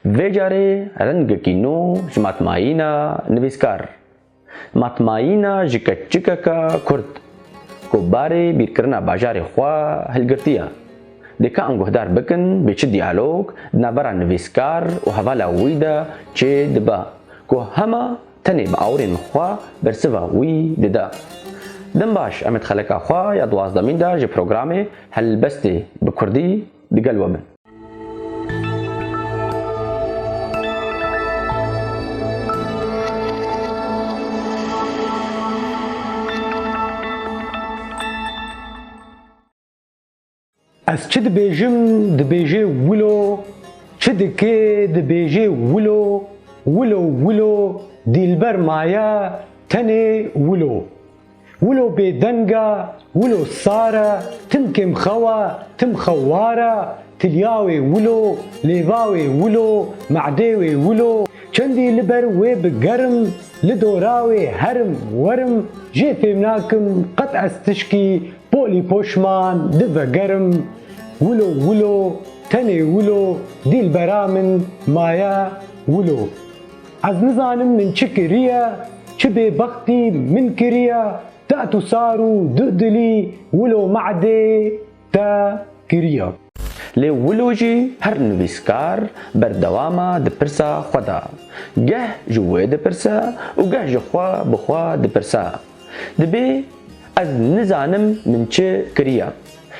Vê carê rengekî nû ji matmayîna nivîskar, matmayîna ji keçikeka Kurd ku barê bîrkirina bajarê xwe hilgirtiye, dikain guhdar bikin bi çi diyalog di navbera nivîskar û hevala wî de çê dibe ku hema tenê bi awirên xwe bersiva wî dide. Dem baş em ê di xeleka xwe ya duwazdemîn de ji programê Helbestê bi Kurdî digel we bin. Ez çi dibêjim dibêjê wilo, çi dikê dibêjê wilo, wilo wilo dîlber maye tenê wilo. Wilo bêdeng e, wilo sar e, tim kêm xew e, tim xewar e, tilya wê wilo, lêva wê wilo, me'dê wê wilo, çendî li ber wê bi gerim, li dora wê herim werim, jê fêm nakim qet ez tişkî polî poşman di vegerim, wilo wilo, tenê wilo, dîlbera min maye wilo. Ez nizanim min çi kiriye, çi bêbextî min kiriye, te'et û sar û du dilî wilo me'dê te kiriye. Lê wilo jî her nivîskar berdewam e di pirsa xwe de. Geh ji wê dipirse û geh ji xwe bi xwe dipirse, dibê ez nizanim min çi kiriye.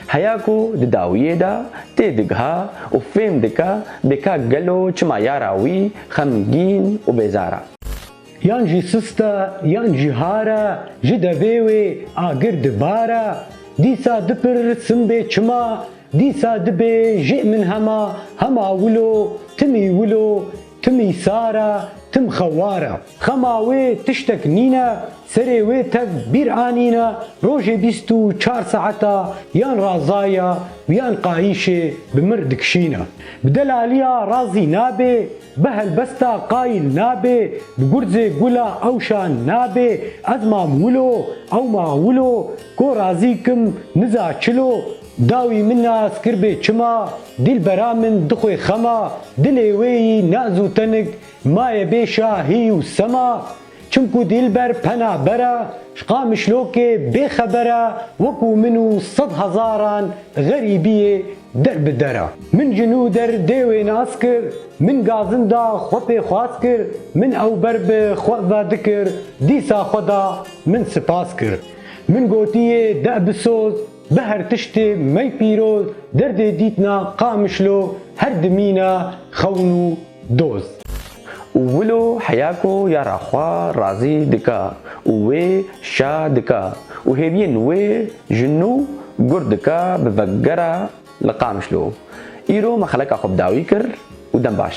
Heya ku di dawiyê de tê digiha û fêm dike bêka gelo çima yara wî xemgîn û bêzar e. Yan jî sist e, yan jî har e, ji devê wê agir di bar e. Dîsa dipir sim bê çima, dîsa dibê jê min hema, hema wilo, timî wilo, Tim îsar e, tim xewar e. Xema wê tiştek nîne, serê wê tev bîr anîne, rojê bîst û çar saeta yan razaya û yan qayîşê bi mir dikişîne. Bi delaliya razî nabê, bi helbesta qayîl nabê, bi gurzê gula ewşa nabê, ez mam wilo, ew ma wilo, ko razî kim, niza çilo, Dawî min na ez kir bê çima, dîlbera min dixwê xema, dilê wê yî naz û tenik, maye bê şa hîy û sema. Çimkû dîlber pena ber e, ji Qamişlokê bêxeber e, wekû min û sed hezaran xerîbiyê der bi der e. Min ji nû der dê wê nas kir, min gazin da xwe pêxwas kir, min ew ber bi xwe vedikir, dîsa xwe da min sipas kir. Min gotiyê de bisoz, Bi her tiştê mey pîroz derdê dîtna Qamişlo her dimîna xewn û doz. Û wilo heya ku ya ra xwe razî dika û wê şa dika û hêviyên wê ji nû gur dika bi vegera li Qamişlo. Îro me xeleka xwe bi dawî kir û dem baş.